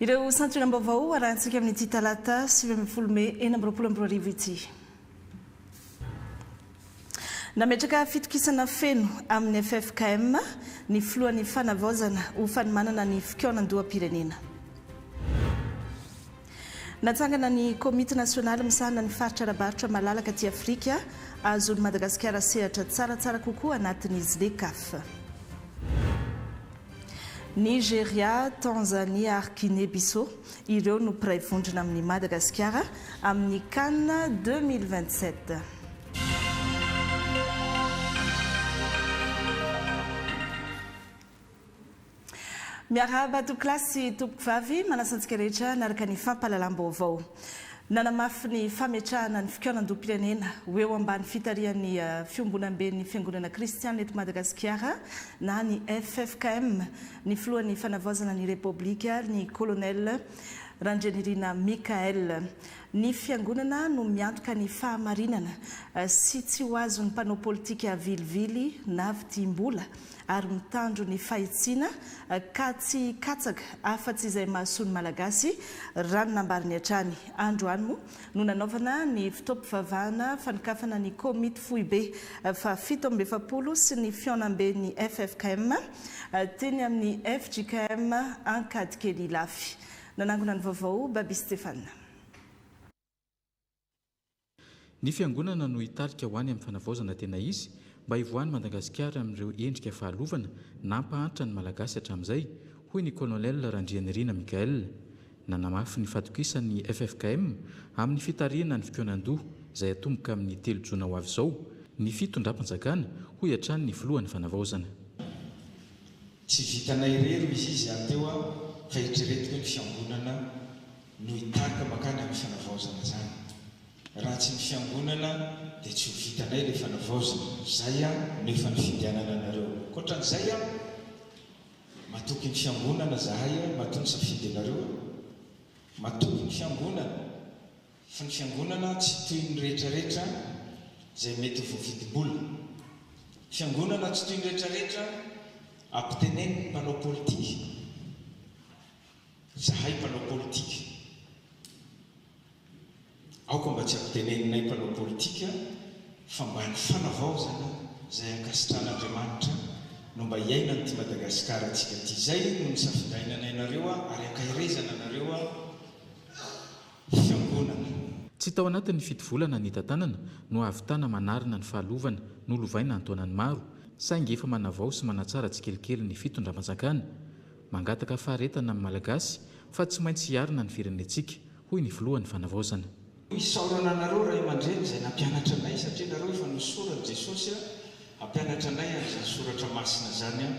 Ireo santionam-baovao arahintsika amin'ity talata sivy ambin'ny folo mey enina amby roapolo amby roa arivo ity. Nametraka fitokisana feno amin'ny ffkm ny filohan'ny Fanavaozana ho fanomanana ny fikaonan-doham-pirenena. Natsangana ny Komity nasionaly misahana ny faritra ara-barotra malalaka aty Afrika, Ahazoan'i Madagasikara sehatra tsaratsara kokoa anatin'ny Zlecaf. Nigeria, Tanzania ary Guinée Bissau ireo no mpiray vondrona amin'i Madagasikara amin'ny Can deux mille vingt-sept. Miarahaba tompokolahy sy tompokovavy, manasa antsika rehetra hanaraka ny fampahalalam-baovao. Nanamafy ny fametrahana ny fikaonandoham-pirenena ho eo ambany fitarihan'ny Fiombonamben'ny Fiangonana Kristianina eto Madagasikara na ny ffkm ny filohan'ny Fanavaozana ny Repoblika ny Colonel Randrianirina Michaël. Ny Fiangonana no miantoka ny fahamarinana sy tsy ho azon'ny mpanao politika vilivily na vidim-bola ary mitandro ny fahitsiana ka tsy hikatsaka afa-tsy izay mahasoa ny Malagasy, raha ny nambariny hatrany. Androany moa no nanaovana ny fotoam-pivavahana fanokafana ny komity foibe fahafito amby efapolo sy ny fihaonamben'ny ffkm teny amin'ny fjkm Ankadikely Ilafy. Nanangona ny vaovao Baby Stéphane. Ny fiangonana no hitarika ho any amin'ny fanavaozana tena izy mba hivoahan'i Madagasikara amin'ireo endrika fahalovana nampahantra ny Malagasy hatramin'izay, hoy ny Colonel Randrianirina Michaël. Nanamafy ny fatokisany ny ffkm amin'ny fitarihana ny fikaonandoha izay hatomboka amin'ny telo jona ho avy izao ny fitondram-panjakana, hoy hatrany ny filohan'ny fanavaozana. Tsy vitanay irery ny izy aty eo aho fa eritreretiko ny fiangonana. no hitarika mankany amin'ny fanavaozana izany. Raha tsy ny fiangonana dia tsy ho vitanay ilay fanavaozana. Izay no efa nifidy hanana anareo. Ankoatran'izay, matoky ny fiangonana izahay matoa nisafidy anareo. Matoky ny fiangonana, fa ny fiangonana tsy toy ny rehetrarehetra izay mety ho voavidim-bola. Ny fiangonana tsy toy ny rehetrarehetra ampiteneniny mpanao politika. Zahay mpanao politika, aoka mba tsy ampiteneninay mpanao politika fa mba ny fanavaozana izay ankasitrahan'Andriamanitra no mba iainan'ity Madagasikara antsika ity. Izay no nisafidainanay anareo ary ankaherezana anareo fiangonana. Tsy tao anatin'ny fito volana nitantanana no hahavitana manarina ny fahalovana nolovaina an-taonany maro, saingy efa manavao sy manatsara tsikelikely ny fitondram-panjakana. Mangataka faharetana amin'ny Malagasy fa tsy maintsy hiarina ny firenentsika, hoy ny filohan'ny Fanavaozana. Isaorana anareo ray aman-dreny izay nampianatra anay satria ianareo efa nosoran'i Jesosy hampianatra anay ary izany soratra masina izany aho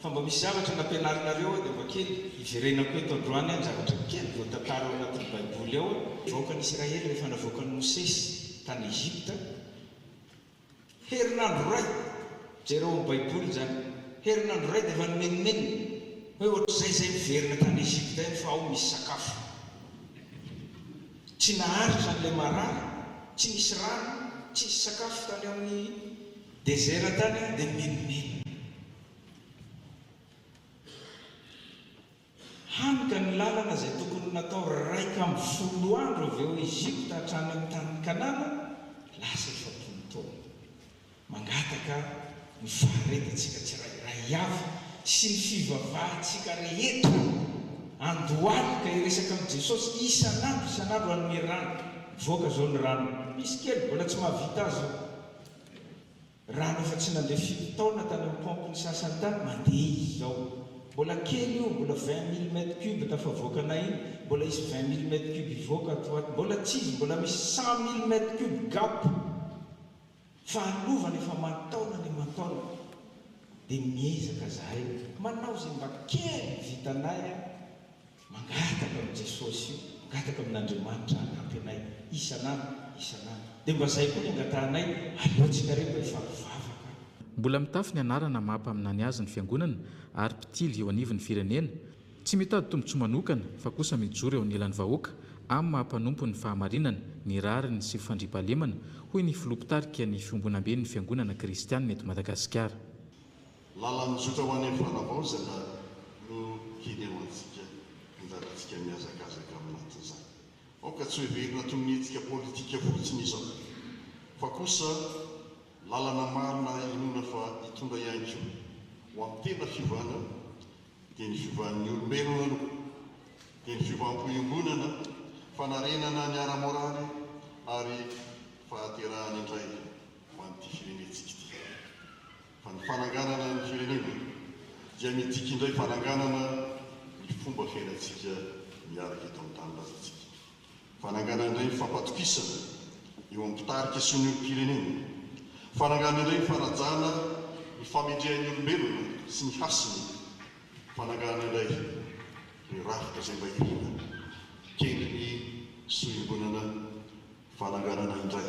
fa mba misy zavatra nampianarinareo aho dia mba kely hiverenako eto androany aho ny zavatra kely voatantara ao anatin'ny baiboly ao aho. Vahoakan'Israely rehefa navoakan'i Mosesy tany Egypta. Herinandro iray! Jereo am baiboly izany. Herinandro iray dia efa nimenomenona hoe ohatr'izay izay miverina tany Egypta ihany fa ao misy sakafo. Tsy naharitra an'ilay marary, tsy nisy rano, tsy nisy sakafo tany amin'ny desert tany dia nimenomenona. Hany ka ny lalana izay tokony natao iraika amby folo andro avy ao Egypta hatrany amin'ny tanin'i Kanana, lasa efapolo taona. Mangataka ny faharetantsika tsirairay avy sy ny fivavahantsika rehetra androany ka hiresaka amin'i Jesosy isan'andro isan'andro hanome rano. Mivoaka izao ny rano. Misy kely mbola tsy mahavita azy io. Raha ny efa tsy nandeha firy taona tany amin'ny paompy ny sasany tany, mandeha izy izao. Mbola kely io, mbola vingt mille mètres cubes tafavoakanay iny, mbola hisy vingt mille mètres cubes hivoaka ato ho ato. Mbola tsy izy, mbola misy cent mille mètres cubes gap. Fahalovana efa aman-taonany aman-taonany. Dia miezaka izahay manao izay mba kely vitanay. Mangataka amin'i Jesosy, mangataka amin'Andriamanitra hanampy anay isan'andro isan'andro. Dia mba izay koa ny angatahanay, aleontsika re mba efa mivavaka. Mbola mitafy ny anarana maha mpaminany azy ny Fiangonana ary mpitily eo anivon'ny firenena. Tsy mitady tombontsoa manokana fa kosa mijoro eo anilan'ny vahoaka amin'ny maha mpanompo ny fahamarinana, ny rariny sy fandriampahalemana, hoy ny Filoha Mpitarika ny Fiombonamben'ny Fiangonana Kristianina eto Madagasikara. Lalan-jotra ho any amin'ny fanavaozana no hinehoantsika ny lalantsika mihazakazaka amin'ny matin'izany. Aoka tsy hoheverina toy ny hetsika politika fotsiny izao, fa kosa lalana marina inoana fa hitondra ihany koa ho amin'ny tena fiovana, dia ny fiovan'ny olombelona aloha, dia ny fiovam-po iombonana, fanarenana ny ara-moraly ary fahaterahana indray ho an'ity firenentsika ity. Fa ny fananganana ny firenena dia midika indray fananganana ny fomba fiainantsika miaraka eto amin'ny tanindrazantsika. Fananganana indray ny fampatokisana eo amin'ny mpitarika sy ny olom-pirenena. Fananganana indray ny fanajana ny famendrehan'ny olombelona sy ny hasiny. Fananganana indray ny rafitra izay mba iriana kendry ny sohimbolana. Fananganana indray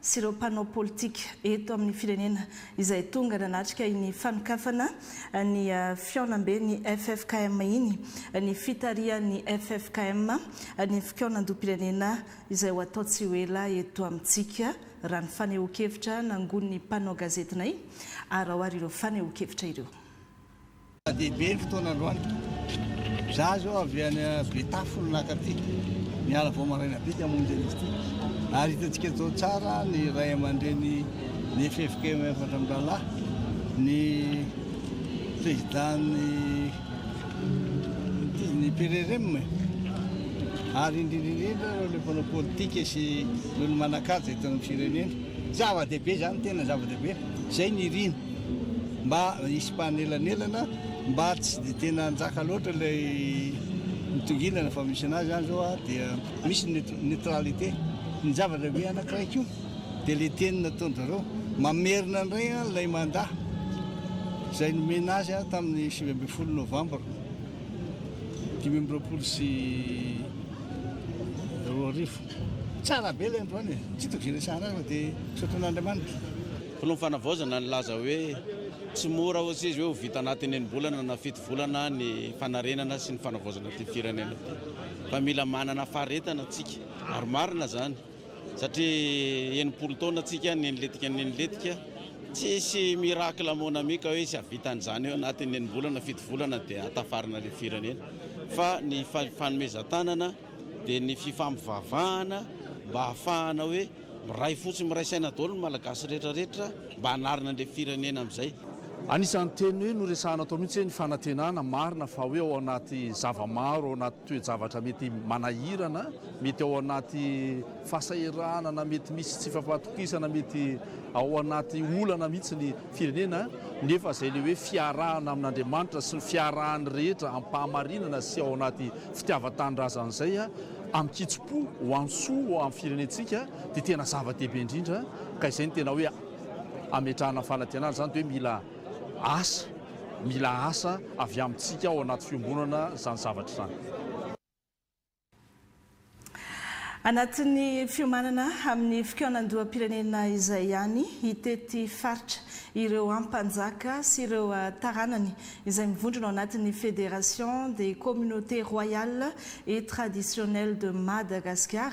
sy ireo mpanao politika eto amin'ny firenena izay tonga nanatrika iny fanokafana ny fihaonamben'ny ffkm iny ny fitarihan'ny ffkm ny fikaonandoham-pirenena izay ho atao tsy ho ela eto amintsika raha ny fanehoan-kevitra nangonin'ny mpanao gazetinay araohary ireo fanehoan-kevitra ireo. Zava-dehibe ny fotoana androany. Izaho izao avy any Betafo no naka aty. Niala vao maraina be dia hamonjy an'izy ity. Ary hitantsika tao tsara ny ray aman-dreny ny FFKM efatra amby rahalahy, ny président-ny ny PRRM e. Ary indrindra indrindra ireo ilay mpanao politika sy ireo manan-kaja eto amin'ny firenena. Zava-dehibe izany, tena zava-dehibe. Izay ny irina. Mba hisy mpanelanelana mba tsy dia tena hanjaka loatra ilay mitongilana fa misy anazy zany zao a dia misy ny neutralité ny zavatra be anankiray ko dia le teny nataony zareo mamerina indray a ilay manda izay nomena azy a tamin'ny sivy ambin'ny folo novambra dimy amby roapolo sy roa arivo tsara be ilay androany e tsy hitako izay resahana azy fa dia misaotra an'Andriamanitra Mpanao fanavaozana nilaza hoe tsy mora hoy izy hoe ho vita anatin'ny enim-bolana na fito volana ny fanarenana sy ny fanavaozana ity firenena ity fa mila manana faharetana tsika ary marina izany satria enimpolo taona tsika neniletika neniletika tsisy miracle mon ami ka hoe tsy havita an'izany eo anatin'ny enim-bolana fito volana dia hatafarina ilay firenena fa ny fanomezan-tanana dia ny fifampivavahana mba hahafahana hoe miray fo sy miray saina daholo ny Malagasy rehetra rehetra mba hanarina an'ilay firenena amin'izay. Anisan'ny teny hoe noresahana tao mihitsy hoe ny fanantenana marina fa hoe ao anaty zava-maro, ao anaty toe-javatra mety manahirana, mety ao anaty fahasahiranana, mety misy tsy fampatokisana, mety ao anaty olana mihitsy ny Firenena, nefa izay ilay hoe fiarahana amin'Andriamanitra sy ny fiarahan'ny rehetra am-pahamarinana sy ao anaty fitiavan-tanindrazana izay, amin-kitsim-po, ho amin'ny soa, ho amin'ny firenentsika, dia tena zava-dehibe indrindra, ka izay no tena hoe ametrahana ny fanantenana, izany dia hoe mila asa, mila asa avy amintsika ao anaty fiombonana izany zavatra izany. Anatin'ny fiomanana amin'ny fikaonandoham-pirenena izay ihany, hitety faritra ireo Ampanjaka sy ireo taranany izay mivondrona ao anatin'ny Fédération des Communautés Royales et Traditionnelles de Madagascar,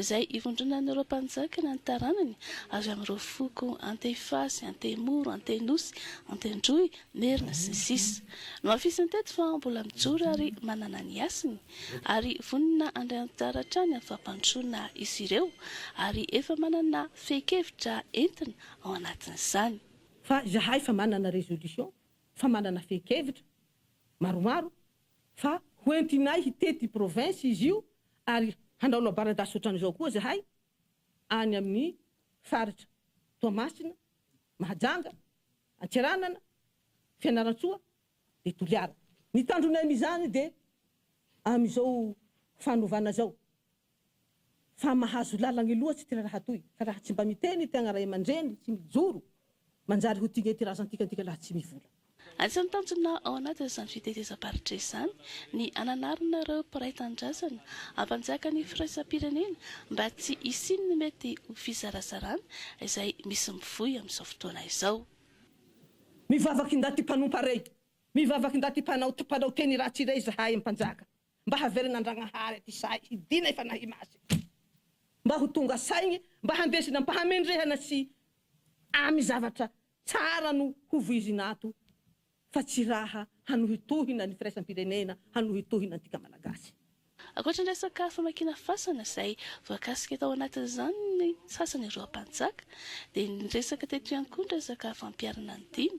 izay ivondronan'ireo mpanjaka na ny taranany avy amin'ireo foko Antefasy, Antemoro, Antenosy, Antendroy, Merina, sy ny sisa Nohafisiny teto fa mbola mijoro ary manana ny hasiny ary vonona handray anjara hatrany amin'ny fampandrosoana izy ireo ary efa manana fehin-kevitra entina ao anatin'izany. Fa izahay efa manana résolution, efa manana fehin-kevitra maromaro fa hoentinay hitety province izy io ary hanao labaradasy otran'izao koa zahay any amin'ny faritra Toamasina, Mahajanga, Antsiranana, Fianarantsoa dia Toliara. Ny tanjonay amin'izany dia amin'izao fanovana izao fa mahazo lalagny loatsy ty raraha toy ka raha tsy mba miteny ty agna raiamandreny tsy mijoro manjary ho tigne ty razantika antika laha tsy mivola. Anisan'ny tanjona ao anatin'izany fitetezam-paritra izany ny hananarana ireo mpiray tanindrazana hampanjaka ny firaisam-pirenena mba tsy hisian'ny mety ho fizarazarana izay misy mivoy amin'izao fotoana izao. Mivavaka indaty mpanompa rey, mivavaka indaty mpanao mpanao teny ratsy rey zahay mpanjaka. mba havelona Andragnahary aty sahy hidina i Fanahy Masina mba ho tonga saigny mba handresy nampahamendrehana sy amy zavatra tsara no ho voizina ato fa tsy raha hanohitohina ny firaisam-pirenena hanohitohina antika Malagasy. Ankoatra ny resaka famakiana fasana izay voakasika tao anatin'izany ny sasany ireo mpanjaka dia niresaka teto ihany koa ny resaka fampiharana ny dimy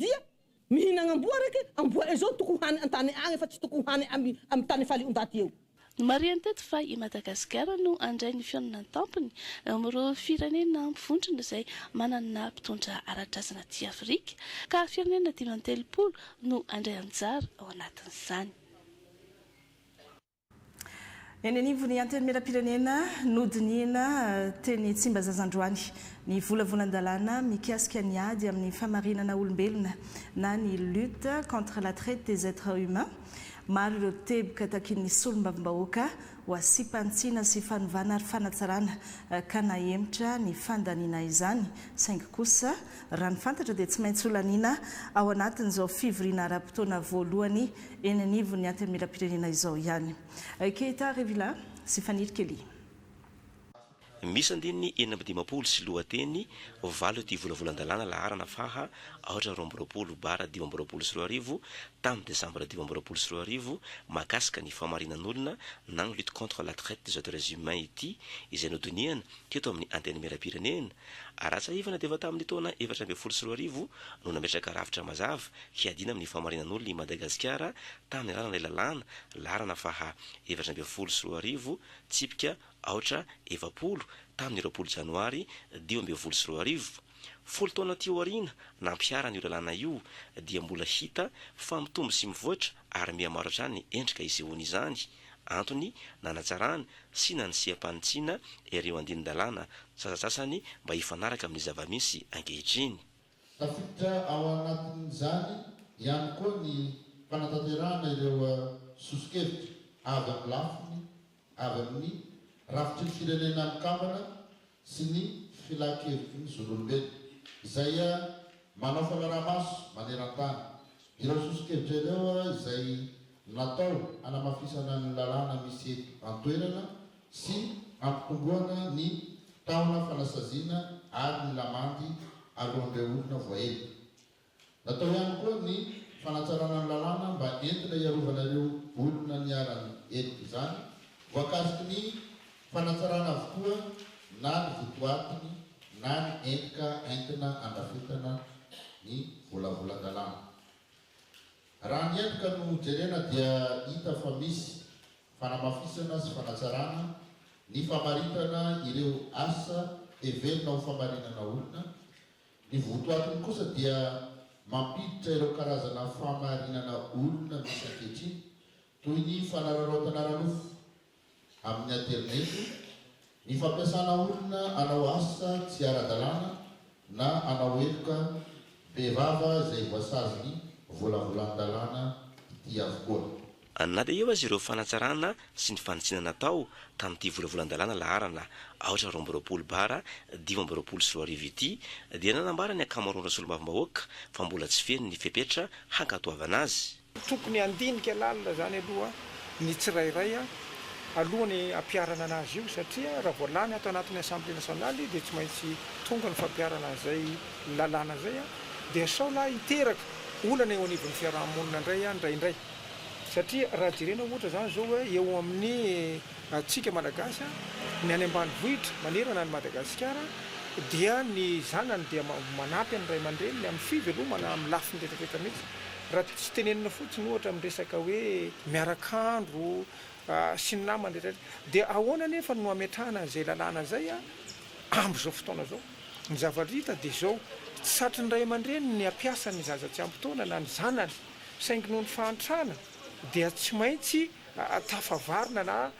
Dia mihinagna amboa reke, amboa e zao toko hany antany agny fa tsy toko hany amy amy tany faly ondaty eo. Nomarihany teto fa i Madagasikara no handray ny fihaonana an-tampony eo amin'ireo firenena mivondrona izay manana mpitondra ara-drazana aty Afrika, ka firenena dimy amby telopolo no handray anjara ao anatin'izany. Eny anivon'ny Antenimierampirenena, nodinihina teny Tsimbazazandroany ny volavolan-dalàna mikasika ny ady amin'ny famarinana olombelona na ny Lutte contre la traite des etres humains. Maro ireo teboka takian'ny solombavambahoaka ho asiam-panitsiana sy fanovana ary fanatsarana ka nahemotra ny fandaniana izany saingy kosa raha ny fantatra dia tsy maintsy holaniana ao anatin'izao fivoriana ara-potoana voalohany eny anivon'ny Antenimierampirenena izao ihany. Keita Revilla sy Faniry Kelly. Misy andininy enina amby dimampolo sy lohateny valo ity volavolan-dalàna laharana faha aotra amby roapolo roapolo Bar dimy amby roapolo sy roa arivo tamin'ny desambra dimy amby roapolo sy roa arivo mahakasika ny fahamarinan'olona na ny lutte contre la traite des êtres humains ity izay nodinihana teto amin'ny Antenimierampirenena Ara-tsahivana dia efa tamin'ny taona efatra ambin'ny folo sy roa arivo no nametraka rafitra mazava hiadiana amin'ny fahamarinan'olona i Madagasikara tamin'ny alalan'ilay lalàna, laharana faha efatra ambin'ny folo sy roa arivo, tsipika aotra efapolo, tamin'ny roapolo janoary dimy ambin'ny folo sy roa arivo. Folo taona aty aoriana nampiharana io lalàna io dia mbola hita fa mitombo sy mivoatra ary mihamaro hatrany ny endrika isehoany izany, antony nanatsarana sy nanisiam-panitsiana ireo andinin-dalàna sasantsasany mba hifanaraka amin'ny zava-misy ankehitriny. Tafiditra ao anatin'izany ihany koa ny fanatanterahana ireo soso-kevitra avy amin'ny lafiny avy amin'ny rafitry ny Firenena Mikambana sy ny Filan-kevitry ny Zon'olombelona, izay manao fanaraha-maso maneran-tany ireo soso-kevitra ireo izay natao hanamafisana ny lalàna misy eto an-toerana sy hampitomboana ny tahona fanasaziana ary ny lamandy alohan'ireo olona voaheloka. Natao ihany koa ny fanatsarana ny lalàna mba entina hiarovana ireo olona niharan'ny heloka izany, voakasiky ny fanatsarana avokoa na ny votoatiny na ny endrika entina andrafetana ny volavolan-dalàna. Raha ny endrika no jerena dia hita fa misy fanamafisana sy fanatsarana ny famaritana ireo asa heverina ho famarinana olona, Ny votoatiny kosa dia mampiditra ireo karazana fahamarinana olona misy ankehitriny toy ny fanararaotana ara-nofo amin'ny aterineto, ny fampiasana olona hanao asa tsy ara-dalàna na hanao heloka bevava izay voasazin'ny volavolan-dalàna ity avokoa. Any na dia eo aza ireo fanatsarana sy ny fanitsiana natao tamin'ity volavolan-dalàna laharana aotra roa amby roapolo bara dimy amby roapolo sy roa arivo ity dia nanambara ny ankamaroan'ireo solombavambahoaka fa mbola tsy feno ny fepetra hankatoavana azy. Tokony handinika lalina izany aloha ny tsirairay alohan'ny hampiharana anazy io satria raha vao lany ato anatin'ny Assemblée nationale dia tsy maintsy tonga ny fampiharana an'izay lalàna izay dia sao lahy hiteraka olana eo anivon'ny fiaraha-monina indray indraindray. Satria raha jerena ohatra izany izao hoe eo amin'ny antsika Malagasy, ny any ambanivohitra manerana an'i Madagasikara dia ny zanany dia manampy ny ray aman-dreniny amin'ny fivelomana amin'ny lafiny rehetra rehetra mihitsy. Raha tsy tenenina fotsiny ohatra amin'ny resaka hoe miaraka andro sy ny namany rehetra rehetra. Dia ahoana anefa no hametrahana an'izay lalàna izay amin'izao fotoana izao? Ny zavatra hita dia izao, tsy satry ny ray aman-dreny ny hampiasa ny zaza tsy ampy taona na ny zanany. saingy noho ny fahantrana dia tsy maintsy tafavarina na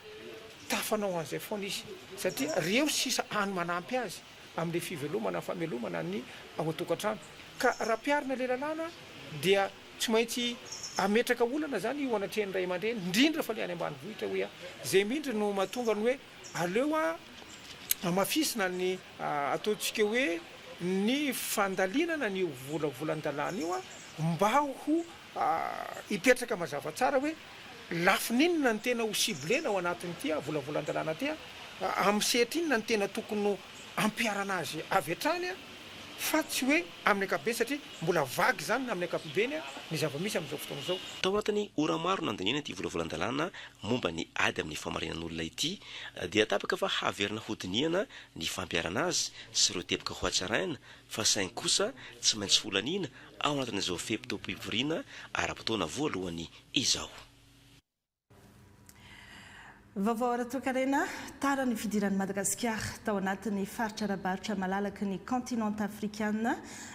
tafanao an'izay foana izy satria reo sisa any manampy azy amin'ilay fivelomana, famelomana ny ao an-tokantrano ka raha mpiarina ilay lalàna dia tsy maintsy ametraka olana izany eo anatrehan'ny ray aman-dreny indrindra fa ilay any ambanivohitra hoe izay mihitsy no mahatonga ny hoe. Aleo hamafisina ny ataontsika hoe ny fandalinana an'io vola volan-dalàna io mba ho hipetraka mazava tsara hoe lafiny inona no tena ho ciblena ao anatin'ity vola volan-dalàna ity, amin'ny sehatra inona no tena tokony hampiharana azy avy hatrany. fa tsy hoe amin'ny ankapobeny satria mbola vague izany na amin'ny ankapobeny ny zava-misy amin'izao fotoana izao. Tao anatin'ny ora maro nandaniana ity volavolan-dalàna momba ny ady amin'ny famarinan'olona ity dia tapaka fa haverina hodinihana ny fampiharana azy sy ireo teboka hohatsaraina fa saingy kosa tsy maintsy holaniana ao anatin'izao fe-potoam-pivoriana ara-potoana voalohany izao. Vaovao ara-toekarena, Tara ny fidiran'i Madagasikara tao anatin'ny faritra ara-barotra malalaky ny kaontinanta afrikana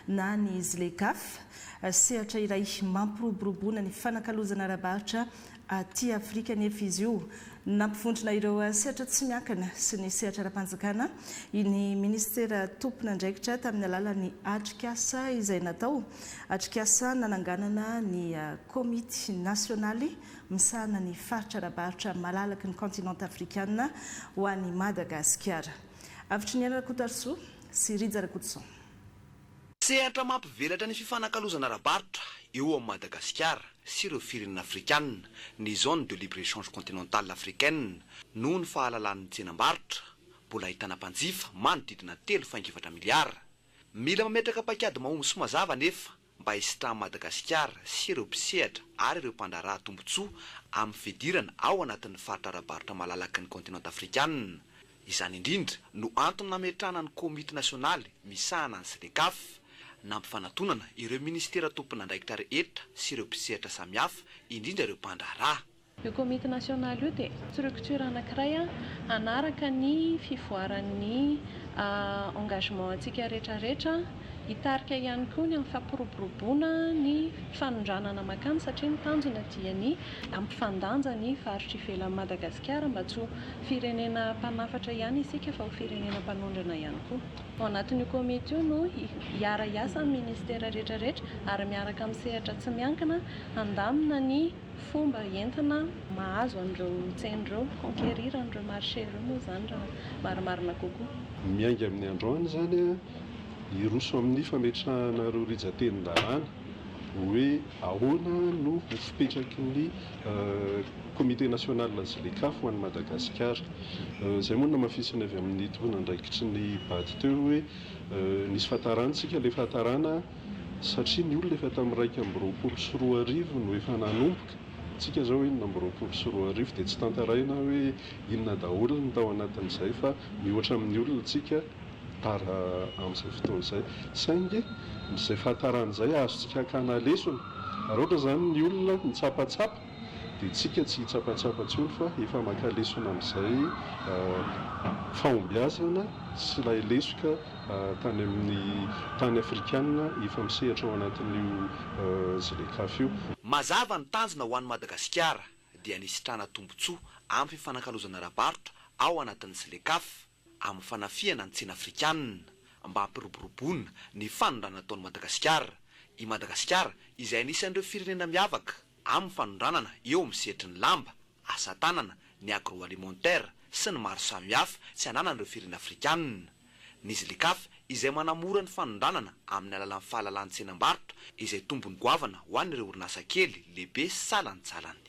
na ny Zlecaf. Sehatra iray mampiroboroboana ny fanakalozana ara-barotra aty Afrika anefa izy io. Nampivondrona ireo sehatra tsy miankina sy ny sehatra ara-panjakana ny minisitera tompon'andraikitra tamin'ny alalan'ny atrikasa izay natao, atrikasa nananganana ny komity nasionaly misahana ny faritra ara-barotra malalaky ny kaontinanta afrikana ho an'i Madagasikara. Avotry ny aina Rakotarisoa sy Rija Rakotoson. Sehatra mampivelatra ny fifanakalozana ara-barotra eo amin'i Madagasikara sy ireo firenena afrikana ny Zone de libre-échange continentale africaine noho ny fahalalan'ny tsenam-barotra mbola ahitana mpanjifa manodidina telo faingo efatra miliara. Mila mametraka paikady mahomby sy mazava anefa mba hisitran'i Madagasikara sy ireo mpisehatra ary ireo mpandraharaha tombontsoa amin'ny fidirana ao anatin'ny faritra ara-barotra malalaky ny kaontinanta afrikanina. Izany indrindra no antony nametrahana ny Komity nasionaly misahana ny Sdecaf, nampifanatonana ireo minisitera tompon'andraikitra rehetra sy ireo mpisehatra samihafa, indrindra ireo mpandraharaha. Io komity nasionaly io dia structure anankiray hanaraka ny fivoaran'ny engagement antsika rehetra rehetra, hitarika ihany koa ny amin'ny fampiroboroboana ny fanondranana makany satria ny tanjona dia ny hampifandanja ny faritra ivelan'i Madagasikara mba tsy ho firenena mpanafatra ihany isika fa ho firenena mpanondrana ihany koa. Ao anatin'io komity io no hiara-hiasa ny ministera rehetra rehetra ary miaraka amin'ny sehatra tsy miankina handamina ny Fomba entina mahazo an'ireo tsena ireo, conquérir an'ireo marché ireo moa izany raha marimarina kokoa. Miainga amin'ny androany izany hiroso amin'ny fametrahana ireo rijatenin-dalàna hoe ahoana no ho fipetraky ny Comité national Zleca ho an'i Madagasikara. Izay moa no namafisiny avy amin'ny tomponandraikitry ny Bad teo hoe nisy fahatarana isika, ilay fahatarana. satria ny olona efa tamin'ny iraika amby roapolo sy roa arivo no efa nanomboka, tsika izao enina amby roapolo sy roa arivo dia tsy tantaraina hoe inona daholo ny tao anatin'izay fa mihoatra amin'ny olona tsika tara amin'izay fotoana izay, saingy izay fahatarana izay azontsika hakana lesona, raha ohatra izany ny olona mitsapatsapa Dia tsika tsy hitsapatsapa intsony fa efa maka lesona amin'izay fahombiazana sy ilay lesoka tany amin'ny tany afrikana efa misehatra ao anatin'io Zlecaf io. Mazava ny tanjona ho an'i Madagasikara dia ny hisitrana tombontsoa amin'ny fifanakalozana ara-barotra ao anatin'ny Zlecaf. amin'ny fanafihana ny tsena afrikanina mba hampiroboroboana ny fanondrana ataon'i Madagasikara, i Madagasikara izay anisan'ireo firenena miavaka amin'ny fanondranana eo amin'ny sehatry ny lamba, asa tanana, ny agroalimentaire sy ny maro samihafa tsy ananan'ireo firenena afrikanina, ny Zlecaf izay manamora ny fanondranana amin'ny alalan'ny fahalalahantsenam-barotra izay tombony goavana ho an'ireo orinasa kely, lehibe sy salantsalany.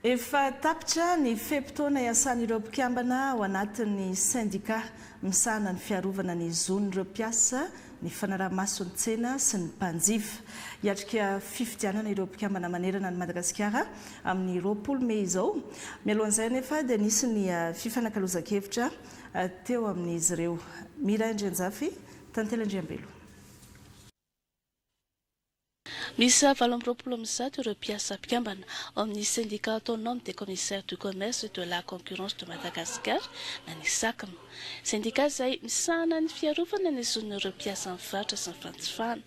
Efa tapitra ny fe-potoana iasan'ireo mpikambana ao anatin'ny sendikà misahana ny fiarovana ny zon'ireo mpiasa, ny fanaraha-maso ny tsena sy ny mpanjifa. Hiatrika fifidianana ireo mpikambana manerana an'i Madagasikara amin'ny roapolo mey izao. Mialohan'izay anefa dia nisy ny fifanakalozan-kevitra teo amin'izy ireo. Miray Andrianjafy, Tantely Andriambelo. Miisa valo amby roapolo amin'ny zato ireo mpiasa mpikambana ao amin'ny Syndicat Autonome des Commissaires du Commerce et de la Concurrence de Madagascar na ny Sacm. Sendika izay misahana ny fiarovana ny zon'ireo mpiasan'ny faritra sy ny fanjifana.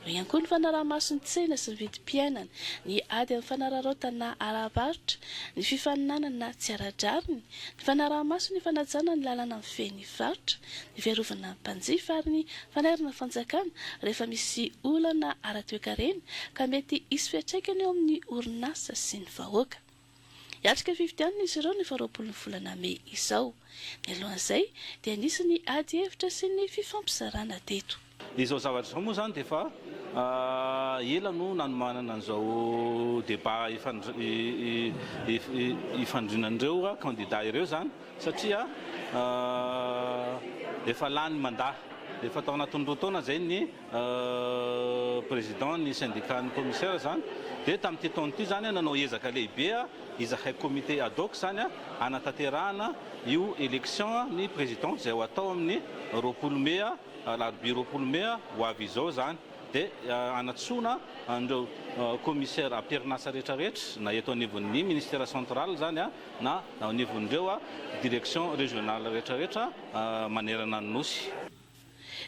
Eo ihany koa ny fanaraha-maso ny tsena sy ny vidim-piainana, ny ady amin'ny fanararaotana ara-barotra, ny fifaninanana tsy ara-drariny, ny fanaraha-maso ny fanajana ny lalàna mifehy ny varotra, ny fiarovana ny mpanjifa ary ny fanairana fanjakana rehefa misy olana ara-toekarena ka mety hisy fiantraikany eo amin'ny orinasa sy ny vahoaka. Hiatrika fifidianana izy ireo ny faharoapolo ny volana mey izao. Mialohan'izay dia nisy ny ady hevitra sy ny fifampizarana teto. Izao zavatra izao moa izany dia efa ela no nanomanana an'izao débat ifandrinan'ireo candidats ireo izany satria efa lany mandat, efa tao anatin'ny roa taona izay ny président ny syndicat ny commissaire izany dia tamin'ity taona ity izany nanao ezaka lehibe izahay comité ad hoc izany hanatanterahana io élection ny président izay ho atao amin'ny roapolo mai Alarobia roapolo mey ho avy izao izany dia hanatsoina an'ireo Commissaires am-perinasa rehetra rehetra na eto anivon'ny Ministère Central izany na ao anivon'ireo Directions Régionales rehetra rehetra manerana ny Nosy.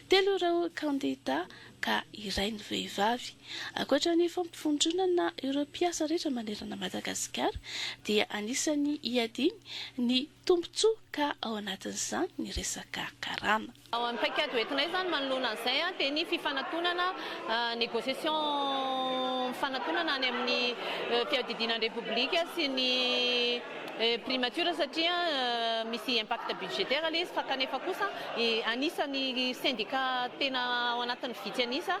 Telo ireo kandida ka iray ny vehivavy. Ankoatra ny fampivondronana ireo mpiasa rehetra manerana Madagasikara dia anisan'ny hiadiany ny Tombontsoa ka ao anatin'izany ny resaka karama. Ny paikady hoentinay izany manoloana an'izay dia ny fifanatonana, négociation mifanatonana any amin'ny fiadidiana ny Repoblika sy ny Primature satria misy impact budgétaire ilay izy fa kanefa kosa anisan'ny sendika tena ao anatin'ny vitsy an'isa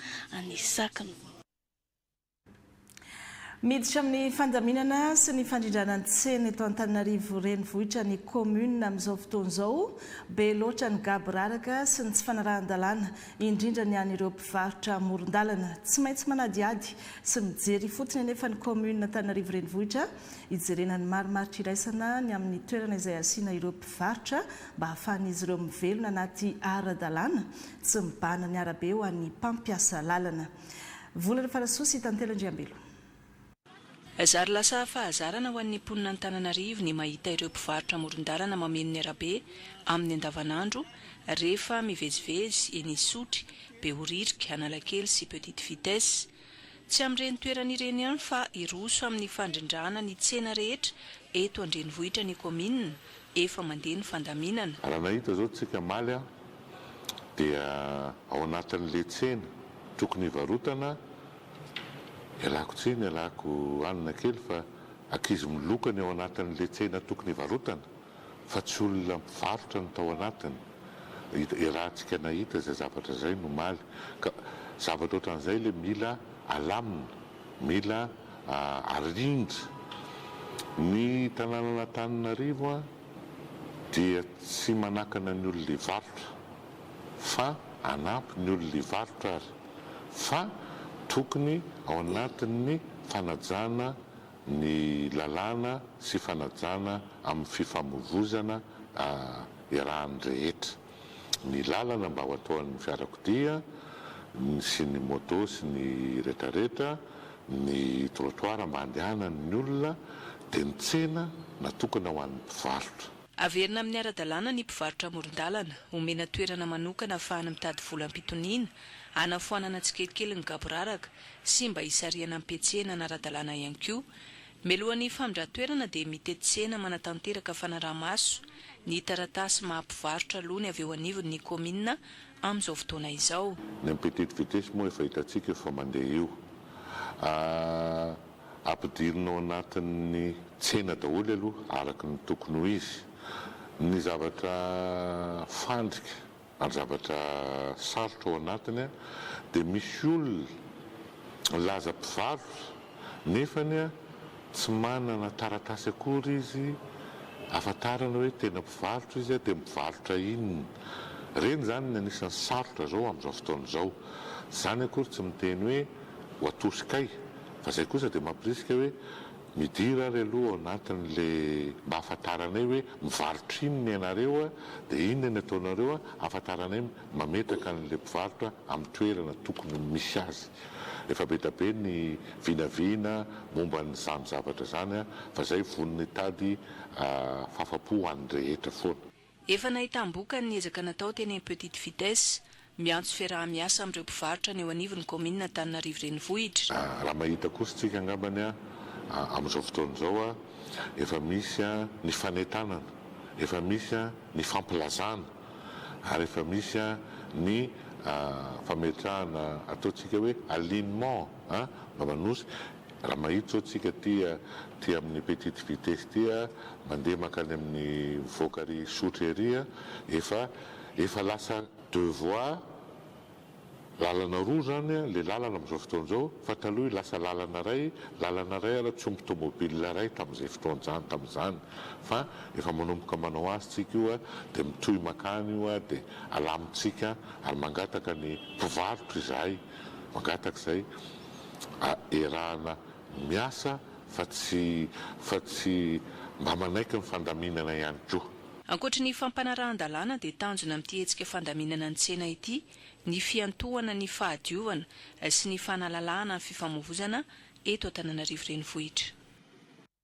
ny sakiny. Miditra amin'ny fandaminana sy ny fandrindrana ny tsena eto Antananarivo renivohitra ny kaominina amin'izao fotoana izao. Be loatra ny gaboraraka sy ny tsy fanarahan-dalàna, indrindra ny an'ireo mpivarotra amoron-dalana. Tsy maintsy manadihady sy mijery fotsiny anefa ny kaominina Antananarivo renivohitra hijerena ny marimaritra iraisana ny amin'ny toerana izay asiana ireo mpivarotra mba hahafahan'izy ireo mivelona anaty ara-dalàna. Tsy mibahana ny arabe ho an'ny mpampiasa lalana. Vola ny farasoa sy tantely Andriambelo. Zary lasa fahazarana ho an'ny mponina Antananarivo ny mahita ireo mpivarotra amoron-dalana mameno ny arabe amin'ny andavanandro rehefa mivezivezy eny Isotry, Behoririka, Analakely sy Petite Vitesse. Tsy amin'ireny toerana ireny ihany fa hiroso amin'ny fandrindrana ny tsena rehetra eto an-drenivohitra ny kaominina, efa mandeha ny fandaminana. Raha nahita izao tsika maly a, dia ao anatin'le tsena tokony hivarotana, ialako tsiny, ialako hanina kely fa ankizy miloka ny ao anatin'le tsena tokony hivarotana. fa tsy olona mpivarotra no tao anatiny, iarahantsika nahita izay zavatra izay nomaly, ka zavatra ohatran'izay ilay mila alamina, mila arindra. Ny tanànan'Antananarivo dia tsy manakana ny olona hivarotra fa hanampy ny olona hivarotra ary, fa tokony ao anatin'ny fanajana ny lalàna sy fanajana amin'ny fifamoivoizana iarahan'ny rehetra, ny lalana mba ho ataon'ny fiarakodia sy ny moto sy ny retraretra, ny trottoir mba handehanan'ny olona, dia ny tsena natokana ho an'ny mpivarotra. Averina amin'ny ara-dalàna ny mpivarotra amoron-dalana, omena toerana manokana ahafahany mitady vola am-pitoniana, hanafoanana tsikelikely ny gaboraraka, sy mba hisarihana am-pihetsehana ny ara-dalàna ihany koa. Mialoha ny famindran-toerana dia mitentisena manatanteraka fanaraha-maso ny taratasy maha mpivarotra aloha ny avy eo anivon' ny kaominina amin'izao fotoana izao. Ny amin'ny petetivetesy moa efa hitantsika io fa mandeha io. Ampidirina ao anatin'ny tsena daholo aloha araka ny tokony ho izy ny zavatra fandrika ary zavatra sarotra ao anatiny dia misy olona laza mpivarotra nefany tsy manana taratasy akory izy afantarana hoe tena mpivarotra izy dia mivarotra inona ireny izany ny anisany sarotra izao amin'izao fotoana izao izany akory tsy miteny hoe ho atosikay fa izay kosa dia mampirisika hoe Midira ary aloha ao anatiny le mba ahafantaranay hoe mivarotra inona ianareo dia inona ny ataonareo ahafantaranay mametraka an'ilay mpivarotra amin'ny toerana tokony misy azy. Efa be da be ny vinavina momba an'izany zavatra izany fa zay vonona hitady fahafapo ho an'ny rehetra foana. Efa nahitam-bokany ny ezaka natao teny amin'ny Petite Vitesse. Miantso fiaraha-miasa amin'ireo mpivarotra ny eo anivon'ny kaominina Antananarivo Renivohitra. Raha mahita kosa tsika angambany amin'izao fotoana izao efa misy ny fanentanana, efa misy ny fampilazana ary efa misy ny fametrahana ataontsika hoe alignement mba manosika. Raha mahita izao tsika aty aty amin'ny petite vitesse ity mandeha mankany amin'ny mivoaka ary hisotra ery efa efa lasa deux voies lalana roa izany ilay lalana amin'izao fotoana izao fa taloha lasa lalana iray lalana iray ary tsy omby tomobil iray tamin'izay fotoan'izany tamin'izany fa efa manomboka manao azy tsika io dia mitohy mankany io dia alamintsika ary mangataka ny mpivarotra izahay mangataka izay erahana miasa fa tsy fa tsy mba manaiky ny fandaminana ihany koa. Ankoatry ny fampanarahan-dalàna dia tanjona amin'ity hetsika fandaminana ny tsena ity ny fiantohana ny fahadiovana sy ny fanalalahana ny fifamoivozana eto Antananarivo Renivohitra.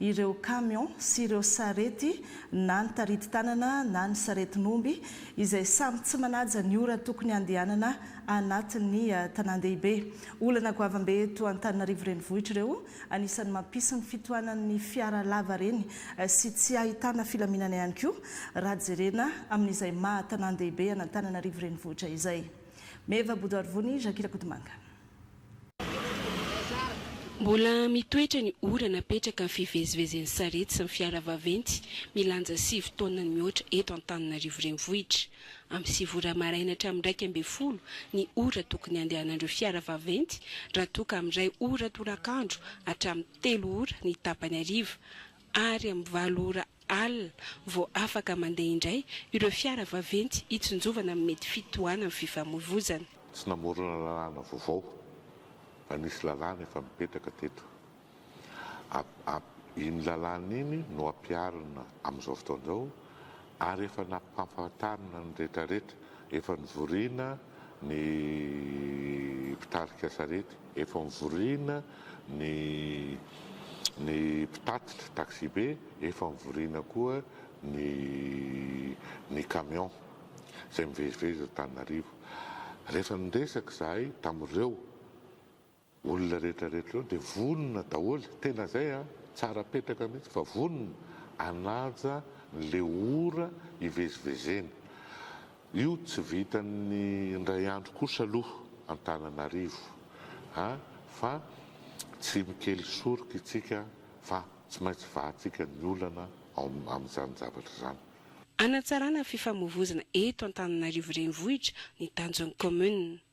ireo kamion sy ireo sarety na ny taritin-tanana na ny saretin'omby izay samy tsy manaja ny ora tokony handehanana anatin'ny tanàn-dehibe. Olana goavambe eto Antananarivo Renivohitra ireo, anisan'ny mampisy ny fitohanan'ny fiara lavareny sy tsy ahitana filaminana ihany koa raha jerena amin'izay maha tanàn-dehibe an'Antananarivo Renivohitra izay. Meva Bodo Arivony, Jacques Rakotomanga. Mbola mitoetra ny ora napetraka ny fivezivezen'ny sarety sy ny fiara vaventy milanja sivy taonany mihoatra eto Antananarivo Renivohitra. Amin'ny sivy ora maraina hatramin'ny iraika ambin'ny folo ny ora tokony handehanan'ireo fiara vaventy raha toa ka amin'ny iray ora tolakandro hatramin'ny telo ora ny tapany hariva, ary amin'ny valo ora alina vao afaka mandeha indray ireo fiara vaventy hitsinjovana amin'ny mety fitohanan'ny fifamoivoizana. Tsy namorona lalàna vaovao fa nisy lalàna efa mipetraka teto. Iny lalàna iny no ampiharina amin'izao fotoana izao. ary efa nampahafantarina ny retraretra, efa nivoriana ny mpitarika sarety, efa nivoriana ny ny mpitatitra taxibe, efa nivoriana koa ny ny camion izay mivezivezy eto Antananarivo. Rehefa niresaka izahay tamin'ireo. Olona rehetra rehetra ireo dia vonona daholo, tena izay an, tsara petraka mihitsy fa vonona hanaja ny le ora hivezivezena. Io tsy vitan'ny indray andro kosa aloha Antananarivo an, fa tsy mikely soroka itsika fa tsy maintsy vahantsika ny olana ao amin'izany zavatra izany. Hanatsarana fifamoivozana eto Antananarivo renivohitra ny tanjon'ny kaominina.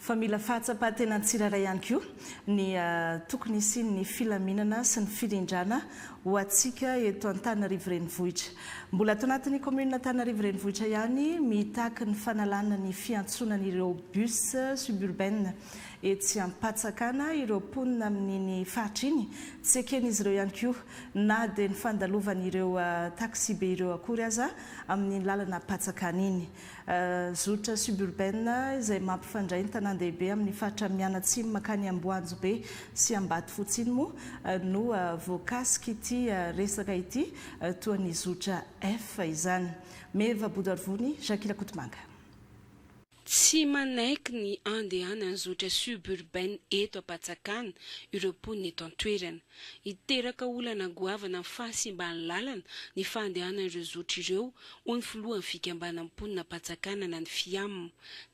Fa mila fahatsapan-tena tsirairay ihany koa ny tokony hisian'ny filaminana sy ny firindrana ho antsika eto Antananarivo Renivohitra. Mbola ato anatin'ny kaominina Antananarivo Renivohitra ihany mitaky ny fanalana ny fiantsonan'ireo bus suburbaines etsy Ampatsakana ireo mponina amin'iny faritra iny. Tsy eken'izy ireo ihany koa na dia ny fandalovan'ireo taxibe ireo akory aza amin'iny lalana Ampatsakana iny. Zotra suburbaine izay mampifandray ny tanàn-dehibe amin'ny faritra mianatsimo mankany Amboanjobe sy Ambatofotsy iny moa no voakasik'ity resaka ity, toa ny zotra F izany. Meva Bodoarivony, Jackie Rakotomanga. Tsy manaiky ny andehanan'ny zotra suburbaine eto Ampatsakana ireo mponina eto an-toerana. Hiteraka olana goavana amin'ny fahasimban'ny lalana ny fandehanan'ireo zotra ireo, hoy ny filohan'ny fikambanan'ny mponina Ampatsakànana ny Fiam.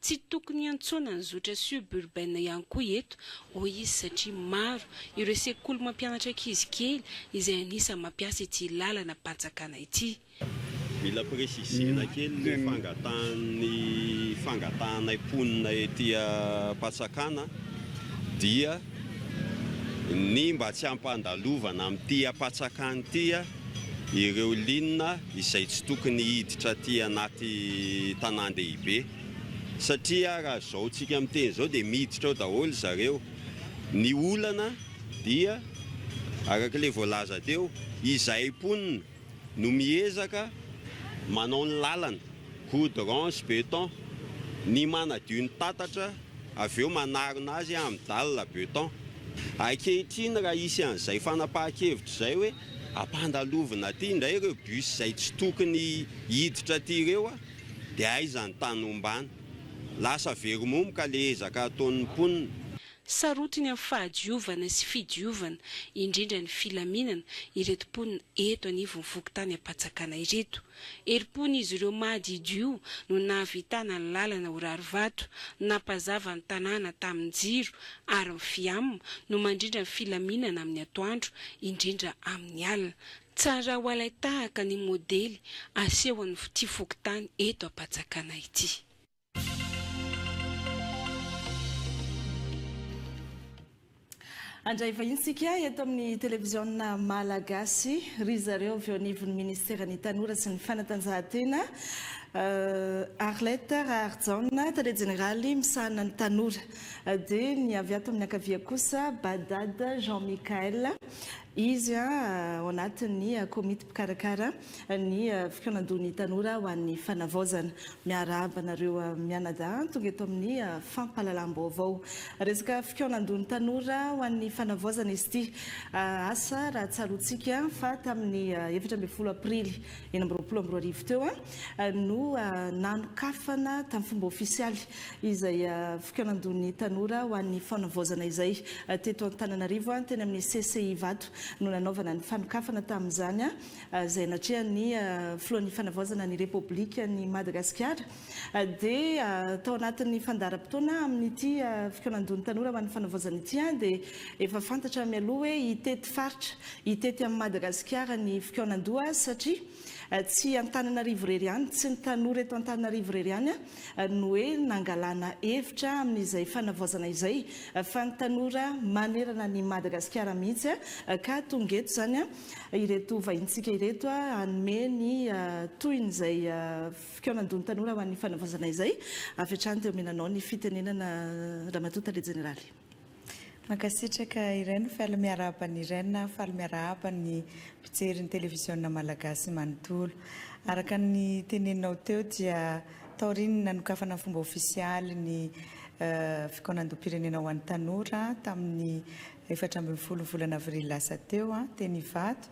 Tsy tokony hiantsoana ny zotra suburbaine ihany koa eto, hoy izy satria maro ireo sekoly mampianatra ankizy kely izay anisan'ny mampiasa ity lalana Ampatsakana ity. Mila presisena kely ny fangatahan'ny fangatahanay mponina ety Ampatsakana dia ny mba tsy hampandalovana amin'ity Ampatsakana ity ireo ligne izay tsy tokony hiditra aty anaty tanàn-dehibe satria raha izao tsika miteny izao dia miditra ao daholo zareo. Ny olana dia araka ilay voalaza teo, izahay mponina, no miezaka manao ny lalana, goudrons, beton, ny manadio ny tatatra avy eo manarona azy amin'ny dalina, beton. Ankehitriny raha hisy an'izay fanapahan-kevitra izay hoe ampandalovina aty indray ireo bus izay tsy tokony hiditra aty ireo dia aiza ny tany ombana? Lasa very momoka ilay ezaka ataon'ny mponina. Sarotiny amin'ny fahadiovana sy fidiovana, indrindra ny filaminana, ireto mponina eto anivon'ny fokontany Ampatsakana ireto. Herim-pon'izy ireo mahadidio no nahavitana ny lalana ho rarivato, nampazava ny tanàna tamin'ny jiro ary ny Fiam no mandrindra ny filaminana amin'ny atoandro, indrindra amin'ny alina. Tsara ho alain-tahaka ny modely asehon'ity fokontany eto Ampatsakana ity. Handray vahiny isika eto amin'ny televiziona Malagasy ry zareo avy eo anivon'ny ministeran'ny Tanora sy ny fanatanjahantena, euh, Arlette Raharijaona, tale jeneraly misahana ny tanora. Euh, dia ny avy ato amin'ny ankavia kosa Badad Jean Michael, izy euh, ao anatin'ny euh, komity mpikarakara ny fikaonandohan'ny tanora ho an'ny fanavaozana. Miarahaba anareo mianadahy tonga eto amin'ny fampahalalam-baovao. Resaka fikaonandohan'ny tanora ho an'ny fanavaozana izy ity. Asa raha tsaroantsika fa tamin'ny efatra ambin'ny folo aprily enina amby roapolo amby roa arivo teo no nanokafana tamin'ny fomba ofisialy izay fikaonandohan'ny tanora ho an'ny fanavaozana izay teto Antananarivo teny amin'ny CCI Ivato no nanaovana ny fanokafana tamin'izany izay natrehan'ny Filohan'ny Fanavaozana ny Repoblikan'i Madagasikara, dia tao anatin'ny fandaharam-potoana amin'ity fikaonandohan'ny tanora ho an'ny Fanavaozana ity dia efa fantatra mialoha hoe hitety faritra, hitety amin'i Madagasikara ny fikaonandoha satria tsy Antananarivo irery ihany, tsy ny tanora eto Antananarivo irery ihany no hoe nangalana hevitra amin'izay Fanavaozana izay fa ny tanora manerana an'i Madagasikara mihitsy ka tonga eto izany ireto vahintsika ireto hanome ny tohiny izay fikaonandon'ny tanora ho an'ny fanavaozana izay. Avy hatrany dia omena anao ny fitenenana Ramatoa Tale Jeneraly. Mankasitraka Irène, faly miarahaba an'i Irène aho, faly miarahaba ny mpijery ny televiziona Malagasy manontolo. Araka ny teneninao teo dia taorian'ny nanokafana fomba ofisialy ny fikaonandoham-pirenena ho an'ny tanora tamin'ny efatra ambin'ny folo volana avrily lasa teo, teny Ivato,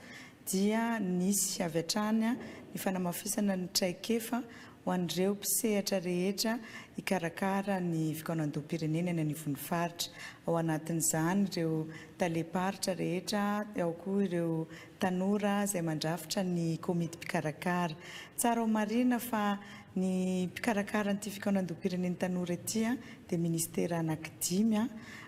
dia nisy avy hatrany ny fanamafisana ny traikefa ho an'ireo mpisehatra rehetra hikarakara ny fikaonandoham-pirenena eny anivon'ny faritra. Ao anatin'izany ireo talem-paritra rehetra, ao koa ireo tanora izay mandrafitra ny komity mpikarakara. Tsara ho marihina fa ny mpikarakara an'ity fikaonandoham-pirenen'ny tanora ity dia minisitera anankidimy.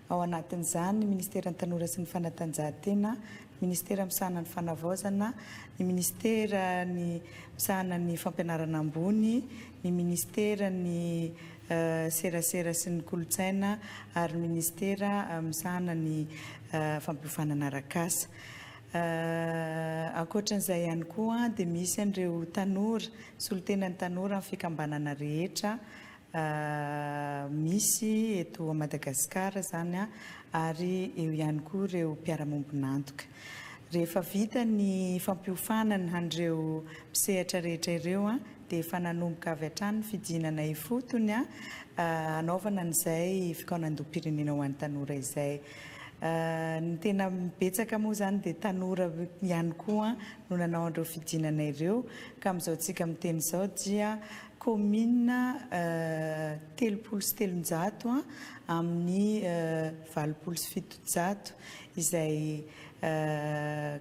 ao anatin'izany ny Ministeran'ny Tanora sy ny Fanatanjahantena, ny Ministera misahana ny Fanavaozana, ny Ministera ny misahana ny Fampianarana ambony, ny Ministera ny Serasera sy ny Kolontsaina ary ny Ministera misahana ny Fampiofanana Arak'asa. Ankoatran'izay ihany koa dia misy an'ireo tanora, solontenan'ny tanora amin'ny fikambanana rehetra misy eto Madagascar zany an, ary eo ihany koa ireo mpiara-mombon'antoka. Rehefa vita ny fampiofanana an'ireo mpisehatra rehetra ireo an, dia efa nanomboka avy hatrany ny fidinana ifotony an, hanaovana an'izay fikaonandoham-pirenena ho an'ny tanora izay. Ny tena betsaka moa izany dia tanora ihany koa no nanao an'ireo fidinana ireo, ka amin'izao tsika miteny izao dia Kaominina telopolo sy telonjato amin'ny valopolo sy fitonjato izay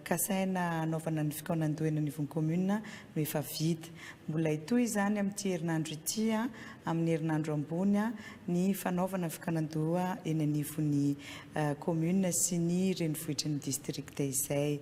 kasaina hanaovana ny fikaonandohena anivon'ny kaominina no efa vita. Mbola hitohy izany amin'ity herinandro ity amin'ny herinandro ambony ny fanaovana ny fikaonandoha eny anivon'ny kaominina sy ny renivohitry ny distrikta izay.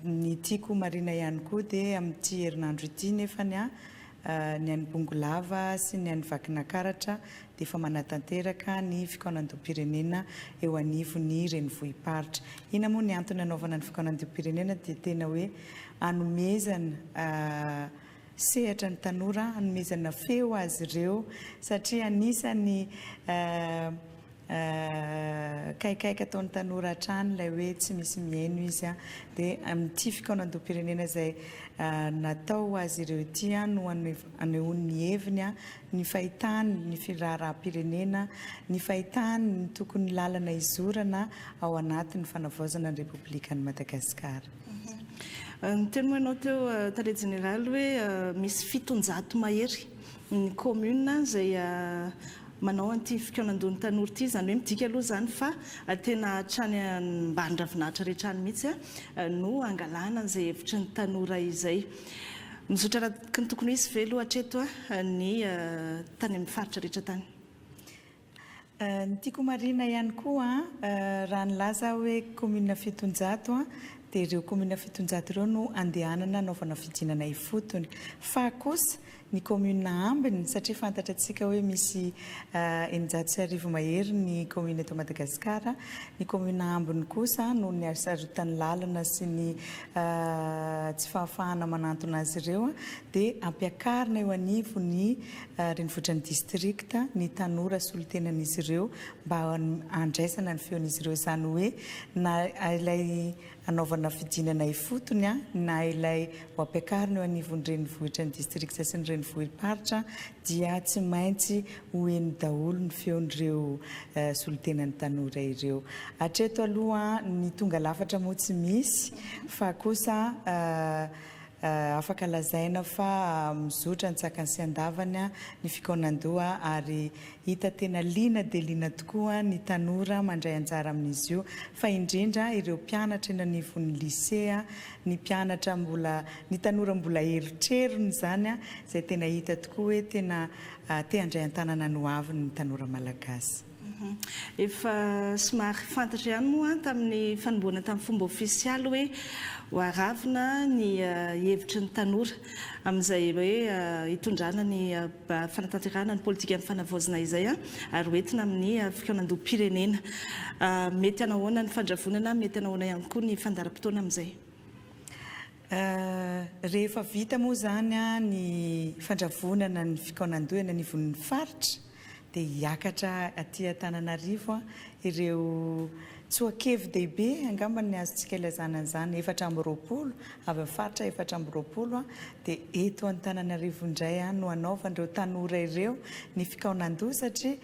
Ny tiako homarihina ihany koa dia amin'ity herinandro ity nefany ny an'i Bongolava sy ny an'i Vakinakaratra dia efa manatanteraka ny fikaonandoham-pirenena eo anivon'ny renivohi-paritra. Inona moa ny antony anaovana ny fikaonandoham-pirenena dia tena hoe anomezana Sehatra ny tanora hanomezana feo azy ireo satria anisan'ny kaikaika ataon'ny tanora hatrany ilay hoe tsy misy mihaino izy dia amin'ity fikaonandoham-pirenena izay natao ho azy ireo ity no anehoany ny heviny, ny fahitany ny firaharaham-pirenena, ny fahitany ny tokony lalana izorana ao anatin'ny fanavaozana ny Repoblikan'i Madagasikara. Niteny moa ianao teo Tale Jeneraly hoe misy fitonjato mahery ny commune izay manao an'ity fikaonandohan'ny tanora ity, izany hoe midika aloha izany fa tena hatrany ambany ravinahitra rehetra any mihitsy no hangalana an'izay hevitry ny tanora izay. Mizotra araka ny tokony ho izy ve aloha hatreto ny tany amin'ny faritra rehetra tany? Ny tiako ho marihina ihany koa raha nilaza aho hoe commune fitonjato dia ireo commune fitonjato ireo no andehanana hanaovana fidinana ifotony fa kosa ny commune ambiny satria fantatra antsika hoe misy eninjato sy arivo mahery ny commune eto Madagasikara, ny commune ambiny kosa noho ny hasarotan'ny lalana sy ny tsy fahafahana manantona azy ireo dia ampiakarina eo anivon'ny renivohitra ny distrikta ny tanora solontenan'izy ireo mba handraisana ny feon'izy ireo izany hoe na ilay hanaovana fidinana ifotony na ilay ho ampiakarina eo anivon'ny renivohitra ny distrikta sy ny renivohi-paritra dia tsy maintsy ho heno daholo ny feon'ireo solontenan'ny tanora ireo. Hatreto aloha ny tonga lafatra moa tsy misy fa kosa Afaka lazaina fa mizotra antsakany sy andavany ny fikaonan-doha ary hita tena liana dia liana tokoa ny tanora mandray anjara amin'izy io fa indrindra ireo mpianatra eny anivon'ny lisea, ny mpianatra mbola, ny tanora mbola erotrerony izany izay tena hita tokoa hoe tena te handray an-tanana ny hoaviny ny tanora malagasy. Efa somary fantatra ihany moa tamin'ny fanomboana tamin'ny fomba ofisialy hoe ho aravona ny hevitry ny tanora amin'izay hoe hitondrana ny fanatanterahana ny politikan'ny fanavaozina izay ary ho entina amin'ny fikaonandoham-pirenena. Mety hanahoana ny fandravonana, mety hanahoana ihany koa ny fandaharam-potoana amin'izay? Ahh, rehefa vita moa izany ny fandravonana ny fikaonandoha eny anivon'ny faritra dia hiakatra aty Antananarivo ireo tsoakevi-dehibe angamba ny azontsika ilazana an'izany efatra amby roapolo avy amin'ny faritra efatra amby roapolo dia eto Antananarivo indray no hanaovan'ireo tanora ireo ny fikaonandoha satria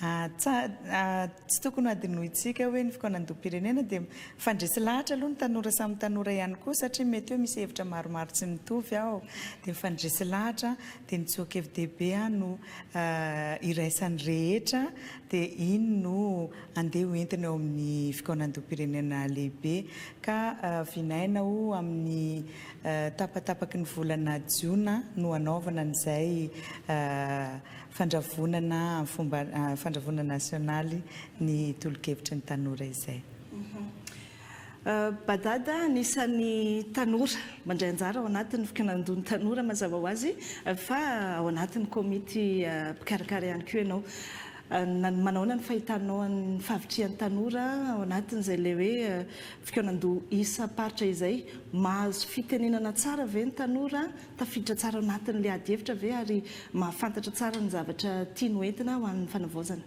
ah, Tsy tokony hadinointsika hoe ny fikaonandoham-pirenena dia mifandresy lahatra aloha ny tanora samy tanora ihany koa satria mety hoe misy hevitra maromaro tsy mitovy ao dia mifandresy lahatra dia ny tsoakevidehibe aho no iraisan'ny rehetra dia iny no andeha ho entina eo amin'ny fikaonandoham-pirenena lehibe ka vinaina ho amin'ny tapatapaky ny volana jiona no hanaovana an'izay Fandravonana amin'ny fomba fandravonana nasionaly ny tolokevitry ny tanora izay. Badada anisan'ny tanora mandray anjara ao anatin'ny fikanandon'ny tanora mazava ho azy fa ao anatin'ny komity mpikarakara ihany koa ianao. Manahoana ny fahitanao an'ny fahavitrihan'ny tanora ao anatin'izay ilay hoe fikaonandoha isam-paritra izay? Mahazo fitenenana tsara ve ny tanora? Tafiditra tsara ao anatin'ilay adihevitra ve ary mahafantatra tsara ny zavatra tiany ho entina ho an'ny fanavaozana?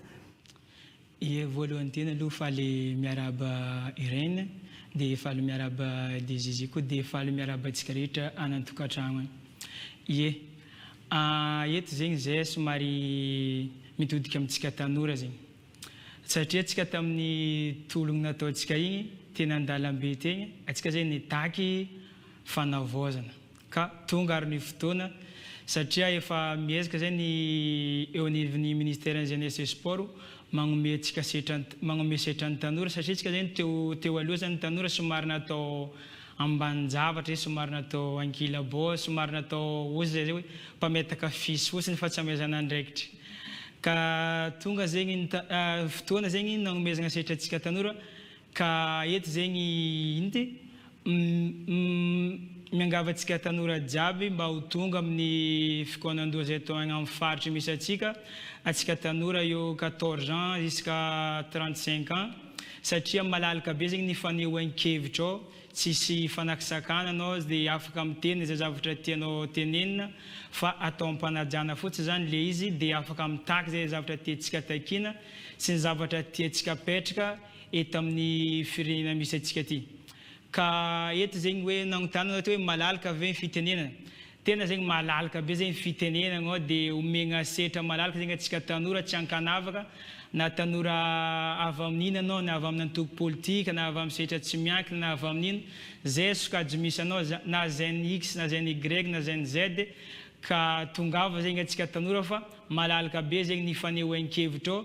Ie, voalohany tena aloha faly miarahaba Irène, dia faly miarahaba dia Zizi koa dia faly miarahaba antsika rehetra any an-tokantragno any. Ie, eto zegny izay somary mitodika amintsika tanora zegny. Satria antsika tamin'ny tologny nataontsika igny teny an-dalambe tegny, antsika zay nitaky fanavaozana. Ka tonga ary ny fotoana satria efa miezaka izay ny eo anivon'ny Ministeran'ny Jeunesse et Sport magnomey antsika setra, magnomey setra ny tanora satria isika izay ny teo, teo aloha izay ny tanora somary natao ambanin-javatra izay, somary natao ankilabao, somary natao oza izay hoe mpametaka fisy fotsiny fa tsy amezana andraikitra. Ka tonga zegny ny ta, fotoana zegny ny nagnomezagna setra antsika tanora, Ka eto zegny inty miangavy antsika tanora jiaby mba ho tonga amin'ny fikaonandoha izay atao agny amin'ny faritra misy antsika, antsika tanora eo quatorze ans jusqu'à trente cinq ans, satria malalaka be zegny ny fanehoan-kevitrao, tsisy fanakisakana anao aza dia afaka miteny izay zavatra tianao tenenina fa atao am-panajana fotsiny zany le izy dia afaka mitaky izay zavatra tiantsika takiana sy ny zavatra tiantsika apetraka eto amin'ny firenena misy antsika ity. Ka eto zegny hoe nagnontanana ohatra hoe malalaka ve ny fitenenana? Tena zegny malalaka be zegny fitenenagna ao de omegna setra malalaka zegny antsika tanora tsy ankanavaka na tanora avy amin'ina anao na avy amin'ny antoko politika na avy amin'ny setra tsy miankina na avy amin'ino zay sokajy misy anao za na zn x na zn y na zn z ka tongava zegny antsika tanora fa malalaka be zegny ny fanehoan-kevitra ao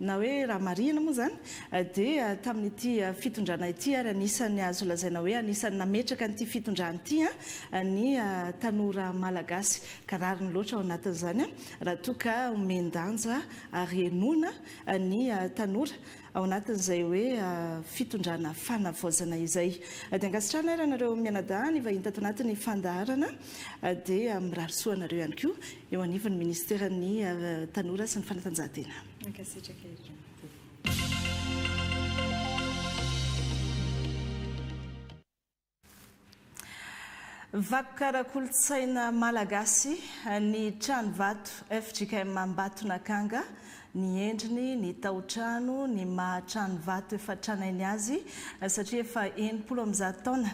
na hoe raha marihina moa izany, dia tamin'ity fitondrana ity ary anisan'ny azo lazaina hoe anisan'ny nametraka an'ity fitondrana ity ny tanora malagasy. Ka rariny loatra ao anatin'izany raha toa ka omen-danja ary henoina ny tanora ao anatin'izay hoe fitondrana fanavaozana izay. Dia ankasitrahana ary anareo mianadahy nivahinta ato anatin'ny fandaharana dia mirary soa anareo ihany koa. eo anivon'ny Ministeran'ny Tanora sy ny Fanatanjahantena. Mankasitraka ery Ramatoa. Vakoka ara-kolontsaina malagasy ny Tranovato fjkm Ambatonakanga ny endriny, ny tao-trano, ny maha trano vato efa tranainy azy, satria efa enimpolo amby zato taona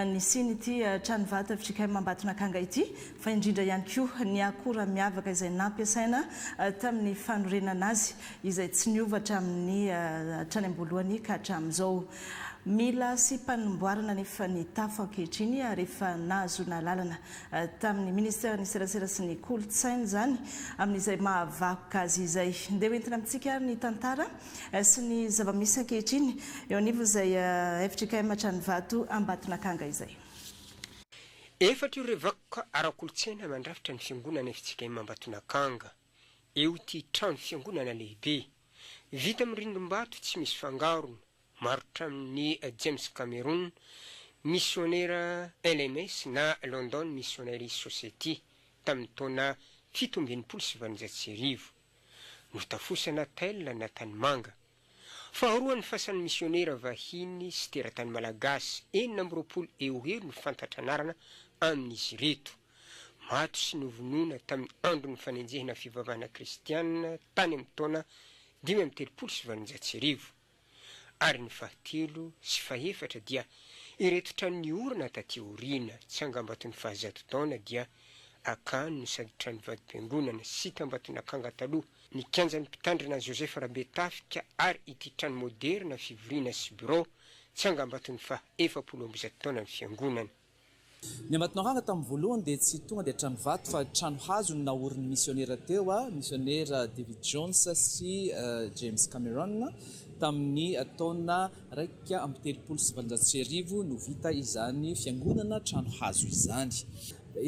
nisian'ity trano vato fjkm Ambatonakanga ity, fa indrindra ihany koa ny akora miavaka izay nampiasaina tamin'ny fanorenana azy, izay tsy niova hatramin'ny hatrany am-boalohany ka hatramin'izao. Mila asiam-panimboarana anefa ny tafo ankehitriny ary efa nahazoana alalana tamin'ny Ministeran'ny Serasera sy ny Kolontsaina izany amin'izay mahavakoka azy izay. Ndeha ho entina amintsika ary ny tantara sy ny zava-misy ankehitriny eo anivon'izay fjkm Hatranivato Ambatonakanga izay. Efatra ireo vakoka ara-kolontsaina mandrafitra ny fiangonana fjkm Ambatonakanga, eo ity trano fiangonana lehibe, vita amin'ny rindrim-bato tsy misy fangarona, Marotra amin'i James Cameron, misionera LMS na London Missionary Society, tamin'ny taona fito amby enimpolo sy valonjato sy arivo. Notafosana Tel na Tanimanga. Faharoan'ny fasan'ny misionera vahiny sy teratany malagasy enina amby roapolo eo ho eo no fantatra anarana amin'izy ireto. Maty sy novonoina tamin'ny andron'ny fanenjehina fivavahana kristiana tany amin'ny taona dimy amby telopolo sy valonjato sy arivo. ary ny fahatelo sy fahefatra dia ireto trano niorina taty aoriana, tsy angambaton'ny fahazato taona dia Akany no sady trano vadim-piangonana sy tambaton'akanga taloha, ny kianjan'ny mpitandrina Joseph Rabetafika ary ity trano moderina fivoriana sy birao tsy angambaton'ny faha efapolo amby zato taonan'ny fiangonana. Ny Ambatonaranga tamin'ny voalohany dia tsy tonga dia trano vato fa trano hazo no naorin'ny misionera teo, misionera David Jones sy James Cameron. Tamin'ny taona iraika amby telopolo sy valonjato sy arivo no vita izany fiangonana trano hazo izany.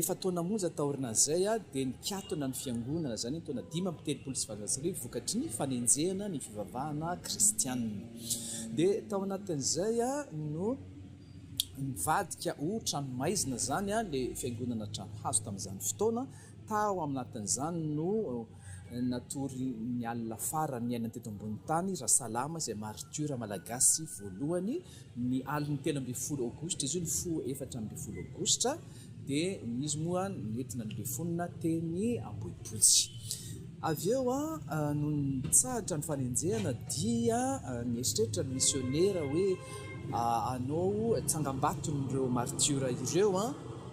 Efa taona monja taorinan'izay dia nikatona ny fiangonana izany ny taona dimy amby telopolo sy valonjato sy arivo vokatry ny fanenjehana ny fivavahana kristiana. Dia tao anatin'izay no Nivadika ho tranomaizina izany ilay fiangonana trano hazo tamin'izany fotoana. Tao anatin'izany no natory ny alina farany niainany teto ambony tany Rasalama izay maritiora malagasy voalohany. Ny alin'ny telo ambin'ny folo aogositra izy io, nifoha efatra ambin'ny folo aogositra, Dia izy moa nentina nilefonina teny Ambohipotsy. Avy eo, nony nitsahatra ny fanenjehana dia nieritreritra ny misionera hoe hanao tsangambaton'ireo martiora ireo.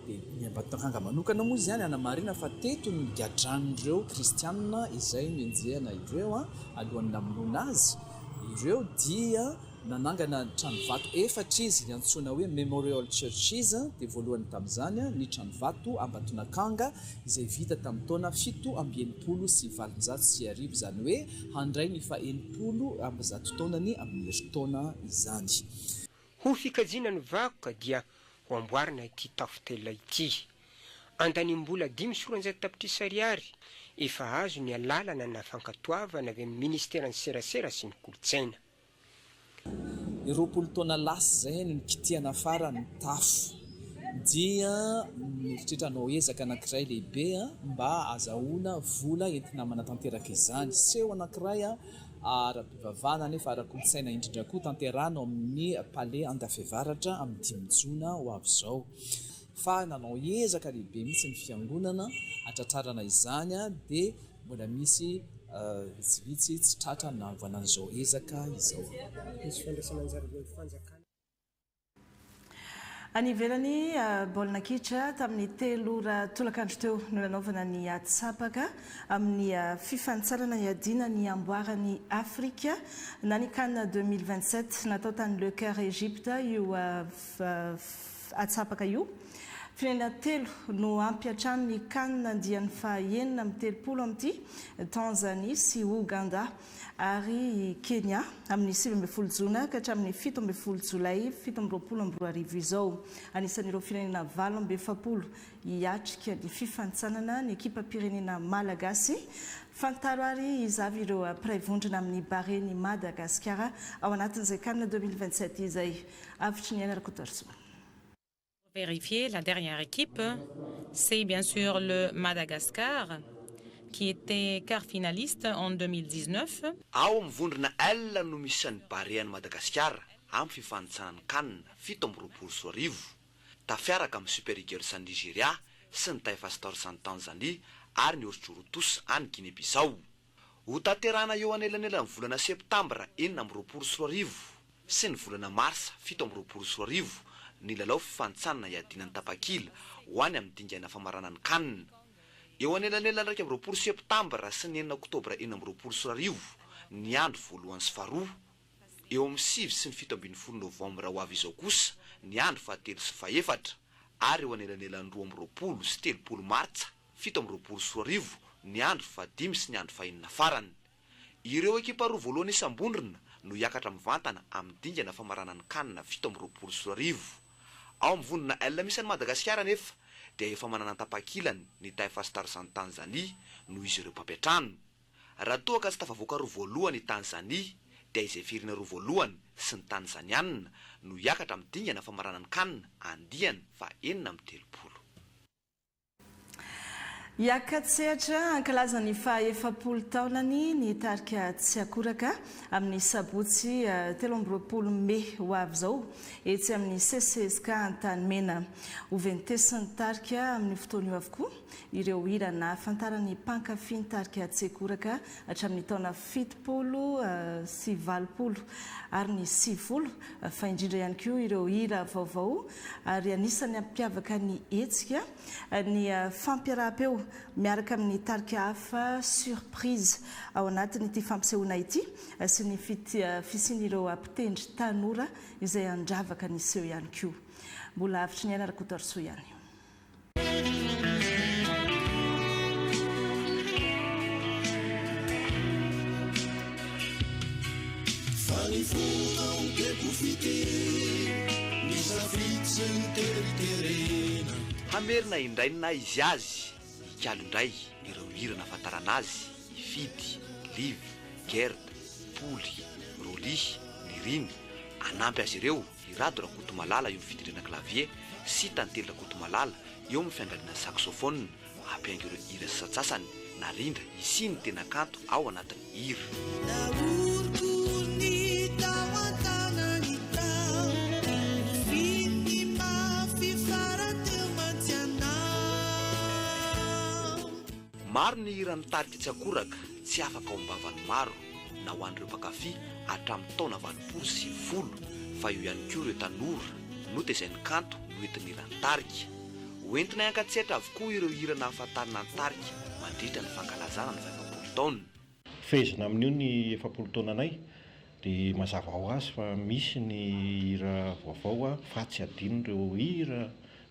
Dia ny Ambatondrakanga manokana moa izany hanamarina fa teto no nigadran'ireo kristiana izay nenjehana ireo alohan'ny namonoana azy ireo dia Nanangana tranovato efatra izy antsoina hoe Memorial Churches, dia voalohany tamin'izany ny tranovato Ambatonakanga izay vita tamin'ny taona fito amby enimpolo sy valonjato sy arivo, izany hoe handray ny fahenimpolo amby zato taonany amin'ny herintaona izany. Ho fikajiana ny vakoka dia ho amboarina ity tafontela ity. Andanimbola dimy sy roanjato tapitrisa ariary efa azo ny alalana na fankatoavana avy amin'ny ministeran'ny serasera sy ny kolontsaina. Ny roapolo taona lasa izay no nikitihana farany ny tafo dia mieritreritra hanao ezaka anankiray lehibe mba hahazahoana vola entina manatanteraka izany. Seho anankiray ara-pivavahana nefa ara-kolontsaina indrindra koa tanterahina ao amin'ny Palais Andafevaratra amin'ny dimy jona ho avy izao. fa nanao ezaka lehibe mihitsy ny fiangonana hatratrarana izany dia mbola misy vitsivitsy tsy tratra ny nahavonana izao ezaka izao. Any ivelany, baolina kitra tamin'ny telo ora tolakandro teo no nanaovana ny atsapaka amin'ny fifanintsanana hiadiana ny amboaran'i Afrika na ny Can deux mille vingt-sept natao tany Le Caire Egypte io Atsapaka io. Firenena telo no ampy hatrany ny can andiany fahaenina amby telopolo amin'ity, Tanzania sy Ouganda ary i Kenya, amin'ny sivy ambin'ny folo jona ka hatramin'ny fito ambin'ny folo jolay fito amby roapolo amby roa arivo izao. Anisan'ireo firenena valo amby efapolo hiatrika ny fifanintsanana ny ekipam-pirenena malagasy. Fantaro ary izavy ireo mpiray vondrona amin'ny Barea-n'i Madagasikara ao anatin'izay can deux mille vingt-sept izay. Avotry ny aina Rakotoarisoa. vérifier la dernière équipe c'est bien sur le Madagascar qui était quart finaliste en 2019. Ao amin'ny vondrona L no misy isan'ny Barean'i Madagasikara amin'ny fifanintsanan'ny Can fito amby roapolo sy roa arivo, tafiaraka amin'ny Super Eagles any Nigeria sy ny Taifa Stars any Tanzania ary ny Orjorotos any Guinée-Bissau. Hotanterahina eo anelanelan'ny volana septambra enina amby roapolo sy roa arivo sy ny volana marsa fito amby roapolo sy roa arivo ny lalao fifanintsanana iadiana ny tapakila ho any amin'ny dingana famarana ny Can. Eo anelanelan'ny iraika amby roapolo septambra sy ny enina oktobra enina amby roapolo sy roa arivo ny andro voalohany sy faharoa. Eo amin'ny sivy sy ny fito ambin'ny folo novambra ho avy izao kosa ny andro fahatelo sy fahefatra ary eo anelanelan'ny roa amby roapolo sy telopolo martsa. fito amby roapolo sy roa arivo ny andro fahadimy sy ny andro fahenina farany. Ireo ekipa roa voalohany isam-bondrona no hiakatra mivantana amin'ny dingana famaranan'ny Can fito amby roapolo sy roa arivo. Ao amin'ny vondrona L misy an'i Madagasikara anefa dia efa manana ny tapakilany ny Taifa Stars any Tanzania noho izy ireo mpampiantrano. Raha toa ka tsy tafavoaka roa voalohany i Tanzania dia izay firina roa voalohany sy ny Tanzaniana no hiakatra amin'ny dingana famaranan'ny Can andiany faha enina amby telopolo. Hiaka-tsehatra hankalaza ny faha efapolo taonany ny tarika Tsiakoraka amin'ny sabotsy telo amby roapolo mey ho avy izao etsy amin'ny CCESK Antanimena. Hoventesin'ny tarika amin'io fotoana io avokoa ireo hira nahafantaran'ny mpankafy ny tarika Tsiakoraka hatramin'ny taona fitopolo sy valopolo ary ny sivifolo fa indrindra ihany koa ireo hira vaovao ary anisan'ny hampiavaka ny hetsika ny fampiaraham-peo miaraka amin'ny tarika hafa surprise ao anatin'ity fampisehoana ity sy ny fisian'ireo mpitendry tanora izay handravaka ny seho ihany koa. Mbola avotry ny aina Rakotoarisoa ihany. Hamerina indray ny naha izy azy Hikalo indray ireo hira nahafantarana azy i Fidy, Live, Gerda, Poly, Rolly, Nirina, hanampy azy ireo I Rado Rakotomalala eo amin'ny fidindrana clavier sy Tantely Rakotomalala eo amin'ny fiangaliana saxophone hampiaingo ireo hira sasantsasany narindra hisian' ny tena kanto ao anatin' ny hira. Maro ny hira mitarika tsy akoraka, tsy afaka ao am-bavan'ny maro. na ho an'ireo mpankafy hatramin'ny taona valopolo sy sivifolo fa eo ihany koa ireo tanora notezain'ny kanto noentin'ny hiran'ny tarika. Hoentinay hankatsetra avokoa ireo hira nahafantarana ny tarika mandritra ny fankalazana ny fahefapolo taoniny. Fehezina amin'io ny efapolo taonanay dia mazava ho azy fa misy ny hira vaovao fa tsy adinon'ireo hira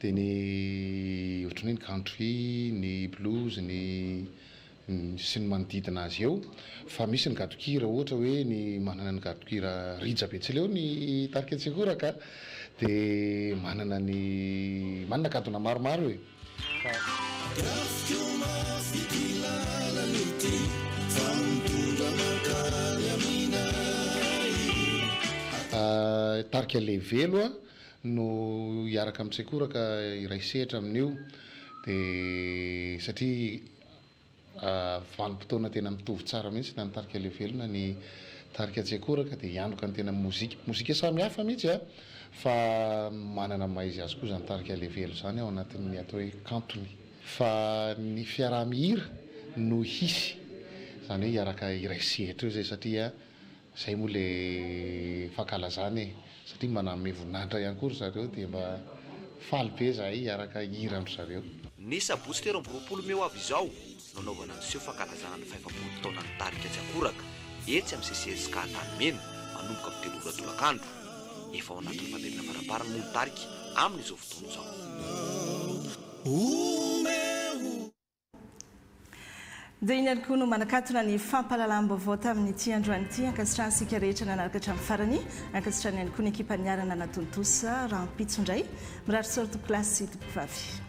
Dia ny ohatran'ny hoe ny country, ny blues, ny sy ny manodidina azy eo. Fa misy ny gadon-kira ohatra hoe ny manana ny gadon-kira Rija Betsileo ny tarika Tsihoraka dia manana ny manana gadona maromaro e! Rafiko mafy ity lalana ity fa mitondra mankany aminay. Tarika Levelo a! no hiaraka amin'ny Tsekora ka hiray sehatra amin'io dia satria vanim-potoana tena mitovy tsara mihitsy na ny tarika Leo Velona ny tarika Tsekora ka dia hianoka ny tena mozika, mozika samy hafa mihitsy a fa manana ny maha izy azy koa izany tarika Leo Velona izany ao anatin'ny atao hoe kantony fa ny fiaraha-mihira no hisy izany hoe hiaraka hiray sehatra eo izay satria Zay moa le fankalazana e! Satria mba nanome voninahitra ihany koa ry zareo dia mba faly be zahay hiaraka hihira amin-dry zareo. Ny sabotsy telo amby roapolo mey ho avy izao no hanaovana ny seho fankalazana ny fahefapolo taonan'ny tarika Tsy Akoraka etsy amin'ny CCSK Antanimena manomboka amin'ny telo ora tolakandro. Efa ao anatin'ny famelona faramparany moa ny tarika amin'izao fotoana izao. Dia iny ihany koa no manakatona ny fampahalalam-baovao tamin'ity androany ity. Ankasitrano isika rehetra nanaraka hatramin'ny farany. Ankasitrano ihany koa ny ekipa niarana natontosa. Rahampitso indray. Mirary soa ry tompokolahy sy tompokovavy.